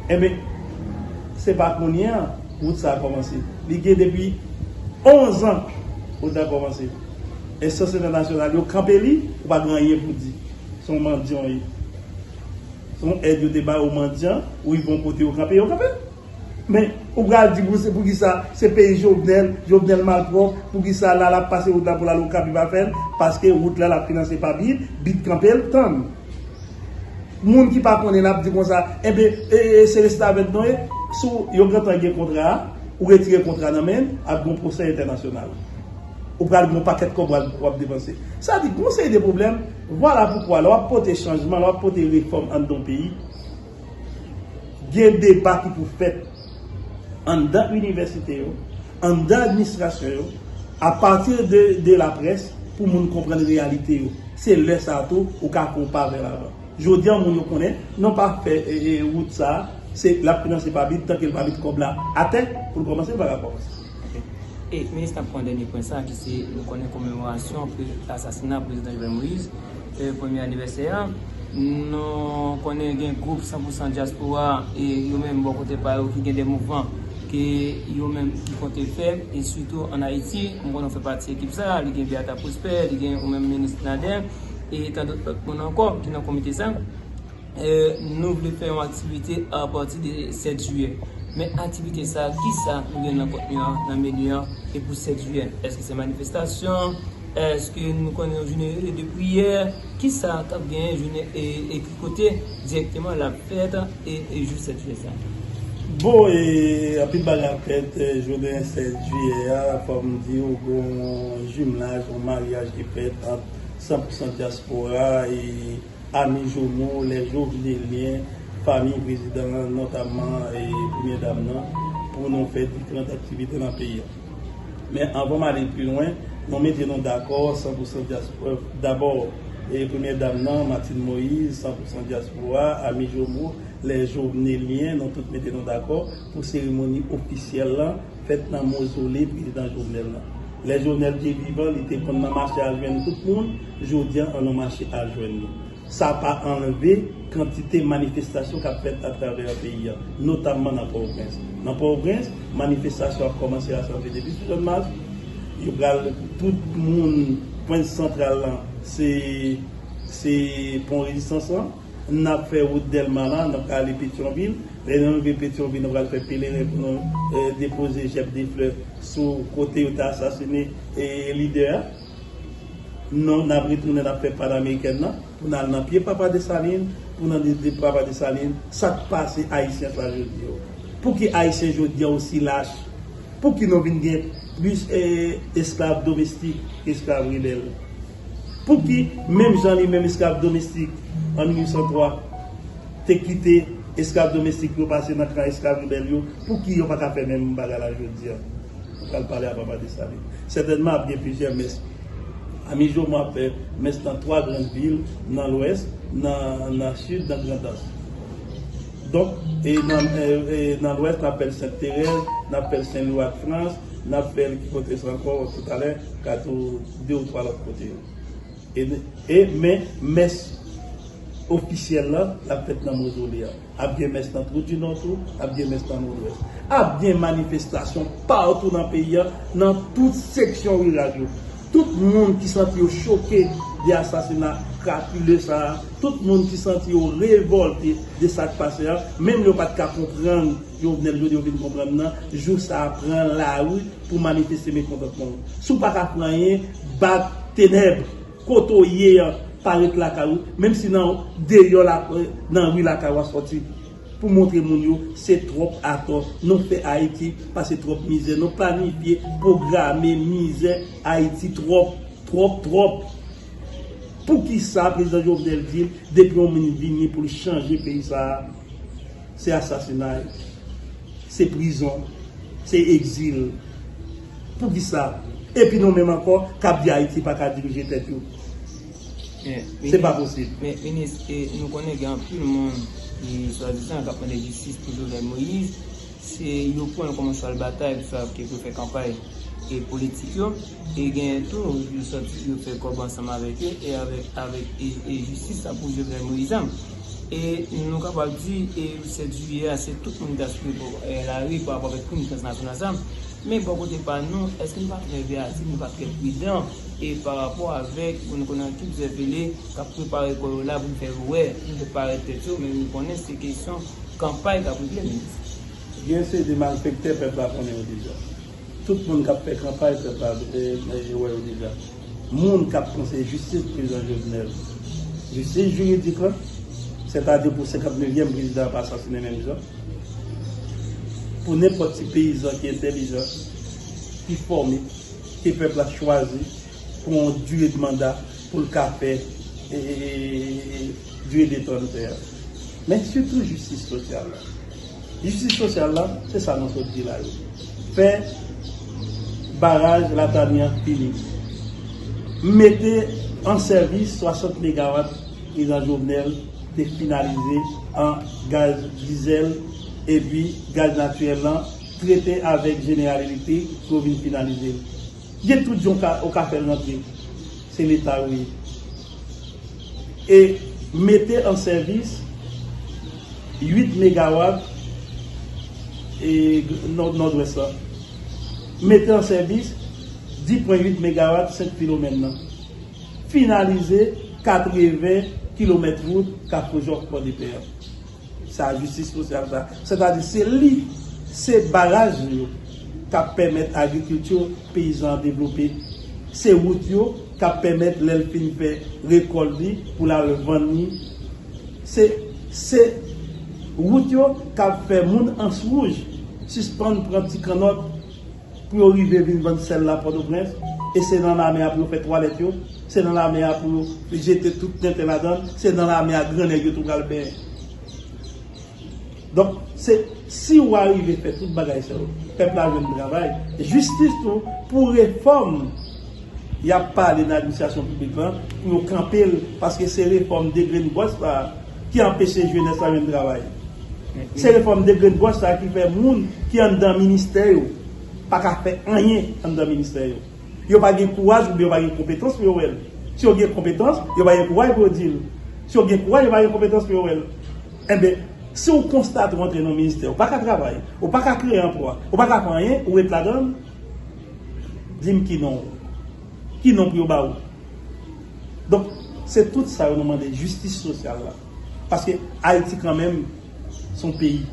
[SPEAKER 2] enben se pa kounye an wout sa komanse li gen depi 11 ans wout la komanse enstans entènasyonal yo kanpe li ou pa gen anyen pou di se yon mandyan ou ye se yon èd yo te bay ou mandyan ou rive yon kote yo kanpe yo kanpe. Men ou pral di pou se pou kisa se peyi jovenel, jovenel malpwòp pou kisa la lap pase wout la pou lal okap li pa fèl paske wout la lap finanse pa bid, bid kanpel tann moun ki pa konnen lap di konsa enben ee se restavèk nou ye sou yo gentan gen kontra a ou retire kontra nan menl ap gon pwosè entènasyonal ou pral gon pakèt kòb wap depanse sa di gon seri de pwoblèm vwala poukwa lè wap pote chanjman lè wap pote refòm anndan yon peyi. Gen deba ki pou fèt anndan inivèsite yo, anndan administrasyon yo, apati de laprès pou moun konprann reyalite yo. Se lè sa a tou ou ka fè yon pa vè lavan. Jodi an moun yo konnen non pa fè wout sa a, se l ap finanse pa vit, tanke l pa met kòb la atè pou l kòmanse l pa ka kòmanse. Ok. E
[SPEAKER 1] Minis nap pran dènye pwen sa ki se nou konnen komemorasyon pre asasina Prezidan Jovenel Moïse e premye anivèsè a, nou konnen gen gwoup 100 pou 100 dyaspora e yo menm bò kote pa yo ki gen de mouvman ke yo menm ki konte fè e sitou an Ayiti, m konnen ou fè pati ekip sa, li gen Beata Prospère, li gen ou menm Minis Nader e tandòt lòt moun ankò ki nan komite sa. Nou vle fè yon aktivite a pati de 7 jiyè. Men aktivite sa a, ki sa nou gen nan kontni an, nan meni an, e pou 7 jiyè? Èske se manifestasyon? Èske nou konnen yon jounen rele de priyè? Ki sa k ap genyen jounen e e ki kote dirèkteman l ap fèt e e jou 7 jiyè sa a? Bon e
[SPEAKER 2] anpil bagay ap fèt jounen 7 jiyè a. Fò m di ou gon yon jimlaj, yon maryaj ki fèt ant 100 pousan dyaspora e. Ami Jomo, lè jo vide lyen famiy prezidan an notamman premye dam nan pou nou fè diferant aktivite nan peyi a. Men anvan m ale pi lwen, nou mete nou dakò san pou san dyaspo dabò e premye dam nan Martine Moise san pou san dyaspora ami Jomo lè jo vne lyen nou tout mete nou dakò pou seremoni ofisyèl lan. fèt nan mozole prezidan Jovenel lan. Lè Jovenel te vivan li te konn nan mache al jwenn tout moun, jodi an nou mache al jwenn li. Sa pa anlve kantite manifestasyon k ap fèt atravè peyi an, notamman nan Pòtoprens. Nan Pòtoprens, manifestasyon ap kòmanse rasanble depi sou Jòn Mas, yo pral tout moun pwen santral lan se pon rezistans lan. N ap fè wout Dèlma la, n ap ale Petyonvil. Lè nou rive Petyonvil, nou pral fè peleren pou nou depoze jèb de flè sou kote yo te asasine lidè a. Non, n ap retounen, n ap fè Panamerikèn nan pou n al nan pye Papa Desalin pou nou mande Papa Desalin sa k pase Ayisyen sa jodi yo. Pou ki Ayisyen jodi a osi lach? Pou ki nou vin gen plis esklav domestik ke esklav rebèl? Pouki, menm jan li menm esklav domestik an 1803 te kite esklav domestik yo pase nan kan esklav rebèl yo, pouki yo pa ka fè menm bagay la jodi a? Ou pral pale a papa Desalin. Sètènman ap gen plizyè mès. Ami Jomo ap fè mès nan 3 gran vil, nan lwès, nan sid, nan Grandans. Donk, e nan lwès n ap fè l Sent Terèz, n ap fè l Sen Lwi ak Frans, n ap fè l ki kote sa ankò, toutalè, Kato. 2 ou 3 lòt kote yo. E men mès ofisyèl la, l ap fèt nan Mozole a. Ap gen mès nan Twou Di Nò tou, ap gen mès nan Nòdwès. Ap gen manifestasyon patou nan peyi a, nan tout seksyon riral yo. Tout moun ki santi yo choke de asasina krapile sa a, tout moun ki santi yo revòlte de sa k pase a, menm lè yo pa t ka konprann, Jovenel jodi ou vin konprann nan jou sa pran lari pou manifeste mekontantman ou si ou paka fè anyen bat tenèb kote ou ye an pa ret lakay ou menm si nan deyò nan ri lakay ou a sòti pou montre moun yo se tròp atò nou fè ayiti pase tròp mizè nou planifye pwograme mizè ayiti tròp tròp tròp poukisa prezidan Jovenel di depi yon moun vini pou l chanje peyi sa. Se asasinay, se prizon, se egzil. Poukisa? Epi nou menm ankò k ap di Ayiti pa ka dirije tèt yo. Se pa posib. Men, minis, nou konnen
[SPEAKER 1] gen anpil moun ki swadizan k ap mande jistis pou Jovenel Moïse. Se yo pran l kòm yon chwal batay pou fè kanpay politik yo. E genyen tou yo sot yo fè kòb ansanm avèk yo e avèk avèk e jistis la pou Jovenel Moïse la. E nou kapab di e 7 jiyè a se tout moun ta swiv pou e lari pa rapò avèk krim transnasyonal sa. Men bò kote pa nou èske nou pa trè veyatif, nou pa trè pridan e pa rapò avèk pou nou konnen an ki dizèvele kap prepare kò yo la pou fè yo wè pou yo parèt tèt yo men nou konnen se kesyon kanpay kap regle menm. Gen se
[SPEAKER 2] de malfèktè pèp la konnen yo deja. Tout moun kap fè kanpay pèp la yo wè yo deja. Moun kap konseye jistis prezidan Jovenel. Jistis jiridik lan. Sètadi pou 59 yèm prezidan an pa asasinen menm jan. Pou nenpòt ti peyizan ki entèlijan, ki fòme, ke pèp la chwazi pou yon dire de manda. pou l ka fè dwe defann tè a. Men sitou jistis sosyal la. Jistis sosyal la, se sa nou sot di la yo. Fè baraj Latami an fini. Mete an sèvis 60 megawat Prezidan Jovenel te finalize an gaz dizèl epi gaz natirèl lan trete avèk Jeneral Elektrik pou yo vin finalize l. Gen tout jan ou ka fèl rantre se leta yo ye e mete an sèvis 8 megawat e nòdwès la mete an sèvis 10 pwen 8 megawat sent filomèn nan finalize 80 kilomèt wout kafou jòf pòdepè an. Sa jistis sosyal sa. Sètadi se li, se baraj li yo k ap pèmèt agrikilti peyizan an devlope. Se wout yo k ap pèmèt lè l fin fè rekòlt li pou l al vann li. Se se wout yo k ap fè moun Answouj sispann pran ti kannòt. Pou yo rive vin vann sèl la Pòtoprens, e se nan lame a pou yo fè twalèt yo, se nan lame a pou yo jete tout tenten ladan l, se nan lame a gran nèg yo tou pral benyen. Donk, se si ou arive fè tout bagay sa yo, pèp la jwenn travay, jistis tou pou refòm y ap pale nan administrasyon piblik lan, pou yo kanpe l, paske se refòm degrenngòch sa a, ki anpeche jenès la jwenn travay. Se refòm degrenngòch sa ki fè moun ki anndan ministè yo pa ka fè anyen anndan ministè yo. Yo pa gen kouraj oubyen yo pa gen konpetans pou yo wè l. Si yo gen konpetans, yo pa gen kouraj pou yo di l. Si yo gen kouraj, yo pa gen konpetans pou yo wè l. Enben, si ou konstate ou antre nan yon ministè, ou pa ka travay, ou pa ka kreye anplwa, ou pa ka fè anyen, ou ret ladan l, di m ki non ou. Ki non pou yo ba ou. Donk se tout sa yo nou mande jistis sosyal la. Paske Ayiti kanmenm se yon peyi.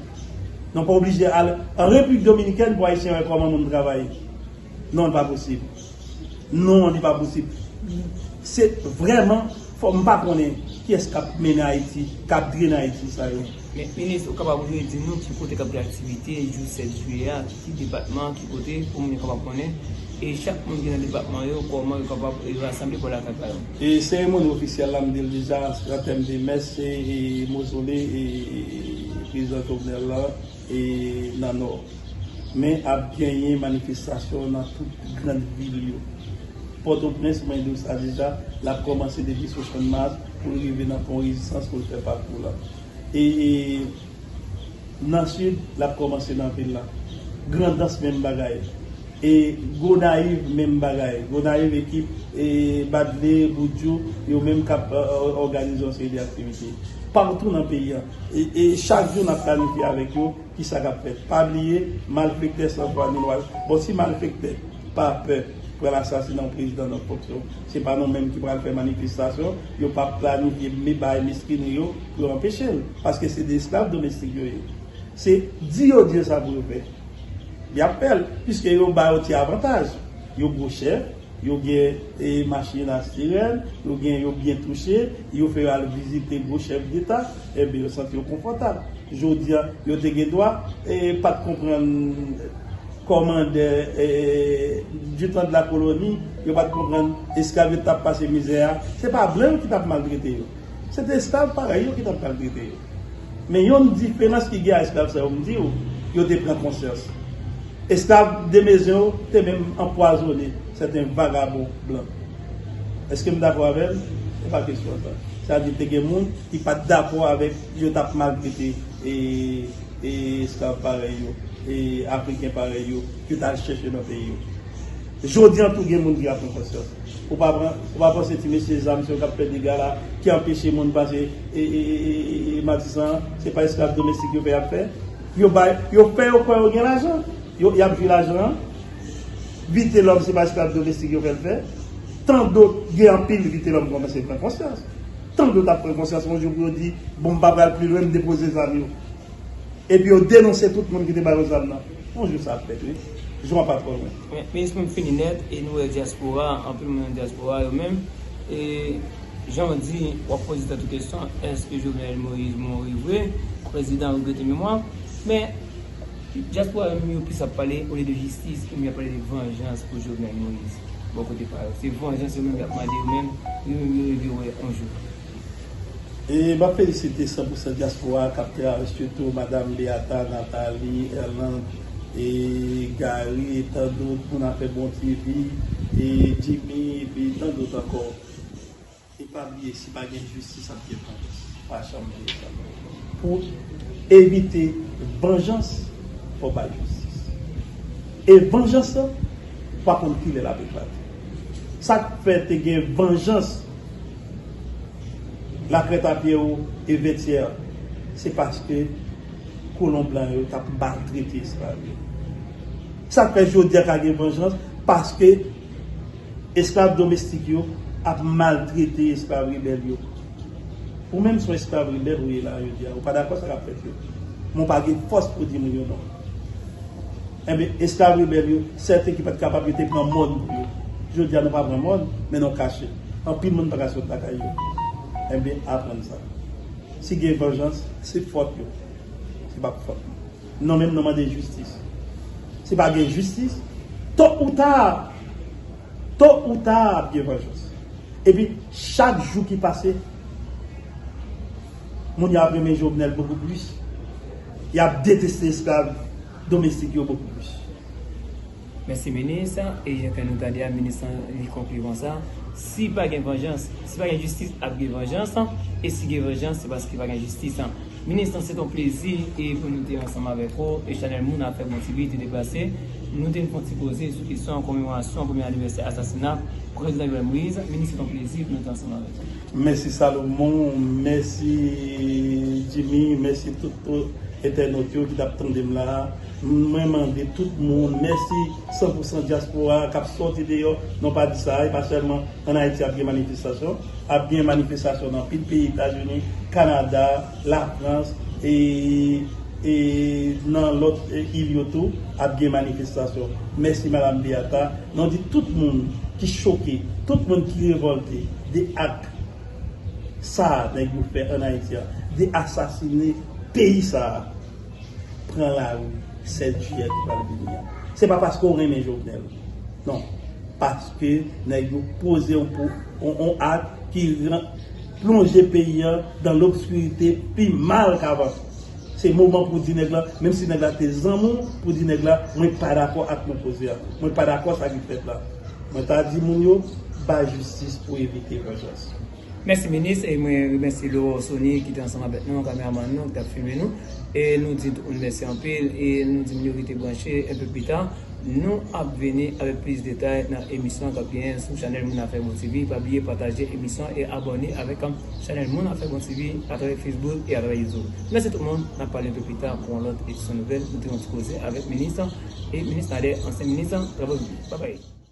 [SPEAKER 2] Nou pa oblije al an Repiblik Dominikèn pou Ayisyen wè kòman moun travay. Non li pa posib. Non li pa posib. Se vrèman fò m pa konnen kiyès k ap mennen Ayiti, k ap drennen Ayiti sa yo. Met minis ou
[SPEAKER 1] kapab redi nou ki kote kap gen aktivite jou 7 jiyè a ki depatman ki kote pou moun yo kapab konnen e chak moun ki nan depatman yo koman yo kapab rasanble pou al lakay pa yo. E seremoni ofisyèl la
[SPEAKER 2] m di l deja an tèm de mès se mozole e prezidan Jovenel la e nan nò men ap genyen manifestasyon nan tout grand vil yo pòtoprens mwen di w sa deja lap kòmanse depi sou channmas Pou l rive nan Pon Rezistans pou l fè pakou la. E nan Sid, l ap kòmanse nan vil la. Grandans menm bagay. E Gonayiv menm bagay. Gonayiv ekip e Badle, Boudjou yo menm k ap òganize yon seri de aktivite. Patou nan peyi a. E chak jou n ap planifye avèk yo kisa k ap fèt. Pa bliye malfektè san fwa ni lwa. Bon si malfektè pa pè. pral asasina yon prezidan nan fonksyon. Se pa nou menm ki pral fè manifestasyon, yo pap planifye me bay meskrenri yo pou yo anpeche l, paske se de esklav domestik yo ye. Se di yo di yo sa pou yo fè, y ap fè l, piske yo ba yo ti avantaj. Yo gwo chèf, yo gen machin a sirèn, yo gen yo byen touche, yo fè yo al vizite gwo chèf deta, enben yo santi yo konfòtab. Jodi a, yo te gen dwa e pa t konprann Kòmandè Lieutenant de la colonie yo pat konprann esklav yo tap pase mizè a se pa blan yo ki tap maltrete yo se te esklav parèy yo ki tap maltrete yo men yon diferans ki gen a esklav sa yo m diw yo te pran konsyans esklav Demesne yo te menm anpwazone sèten vagabon blan èske m dakò avèm se pa kesyon sa sa vle di te gen moun ki pat dakò avèk yo tap maltrete e. e esklav parèy yo, e afriken parèy yo yo t al chèche nan peyi yo. Jodi an tou gen moun ki ap pran konsyans. Ou pa pran, ou pa panse ti mesye zam se yo k ap fè dega la, ki anpeche moun pase e matisan an, se pa esklav domestik yo fè y ap fè. Yo bay, yo fè yo kwè yo gen lajan, yo, y ap jwi lajan an. Vitelòm se pa esklav domestik yo fè l fè. Tandot gen anpil Vitelòm kòmanse pran konsyans. Tank yo t ap pran konsyans yon jou pou yo di, Bon, m pa pral pi lwen, m depoze zam yo. Epi yo denonse tout moun ki te ba yo zam nan. Yon jou sa ap fèt wi. Jou an pa twò lwen. Men, men esprim fini nèt
[SPEAKER 1] e nou wè dyaspora a, anpil moun nan dyaspora a yo menm, e jan w di, w ap poze tèt ou kesyon, èske Jovenel Moïse mouri vre, prezidan regrete memwa l? Men. Diaspora yo menm yo plis ap pale olye de jistis yo menm yap pale de vanjans pou Jovenel Moïse bò kote pa yo se vanjans yo menm yap mande yo menm yo menm yo reve wè on jou.
[SPEAKER 2] E map felisite san pou san diaspora a kap travay sitou madam Beata, Nathalie, Erlande e Garry e tan dot moun afè bon TV e Jimmy epi tan dot ankò. E pa bliye si pa gen jistis ap gen vanjans. Pa janm bliye sa. Pou evite vanjans fò bay jistis. E vanjans lan pa konn kilè lap eklate. Sak fè te gen vanjans lakrèt a pyè ou e vètyè a se paske kolon blan yo tap maltrete esklav yo. Sak fè jodia ka gen vanjans paske. Esklav domestik yo ap maltrete esklav rebèl yo. Ou menm son esklav rebèl ou ye la a jodi a. Ou pa dakò sa kap fèt yo. Men ou pa gen fòs pou di moun yo non. Enben, esklav rebèl yo, sèten ki pat kapab yo te pran mòn pou yo. Jodi a nou pa pran mòn, men nou kache. Anpil moun pa ka sot lakay yo. Enben, aprann sa. Si gen vanjans, se fòt yo. Se pa fòt mwen. Non menm nan mande jistis. Si pa gen jistis, to ou ta, to ou ta ap gen vanjans. E pi chak jou ki pase, moun yo ap renmen Jovenel bokou plis. Y ap deteste esklav domestik yo bokou plis.
[SPEAKER 1] Mèsi minis, e jan ke nou tande a minis lan li konkli konsa, si pa gen vanjans, si pa gen jistis ap gen vanjans, e si gen vanjans se paske pa gen jistis. Minis lan se t on plezi e pou nou te ansanm avèk ou e chanèl moun afè bon TV te deplase pou nou te n fè on ti koze sou kesyon komemorasyon premye anivèsè asasina prezidan Jovenel Moïse minis se t on plezi pou nou te ansanm avèk ou. Mèsi Salomon,
[SPEAKER 2] mèsi Jimmy, mèsi tout entènot yo ki tap tande m la a. Mwen mande tout moun, mèsi 100 pou 100 dyaspora kap sòti deyò, non pa di sa a, e pa sèlman. An Ayiti ap gen manifestasyon, ap gen manifestasyon nan anpil peyi Etazini, Kanada, Lafrans e e nan lòt il yo tou ap gen manifestasyon. Mèsi Madam Beata, nou di tout moun ki choke, tout moun ki revòlte de ak sa nèg yo fè an Ayiti a, de asasine peyi sa a. pran lari 7 jiyè ki pral vini an. Se pa paske w renmen Jovenel. Non. Paske nèg yo poze yon pou, yon ak ki plonje peyi an dan lobskirite pi mal kavan. Se moman pou w di nèg la, menm si nèg la te zanmi w, pou w di nèg la, mwen pa dakò ak nou poze a. Mwen pa dakò sa ki fèt la. Mwen ta di moun yo, bay jistis pou evite vanjans. Mèsi minis
[SPEAKER 1] e mwen remèsye Laurent Sony ki te ansanm avèk nou an kameramann nou ki tap filme nou e nou di tout moun mèsi anpil e nou di moun yo rete branche enpe pita nou ap vini avèk plis detay nan emisyon kap genyen sou chanèl moun afè bon TV pa bliye pataje emisyon e abòne avèk chanèl moun afè bon TV atravè Facebook e atravè YouTube mèsi tout moun nap pale enpe pita pou yon lòt edisyon nouvèl nou te gen yon ti koze avèk minis e minis Nader ansyen minis travaux publics babay.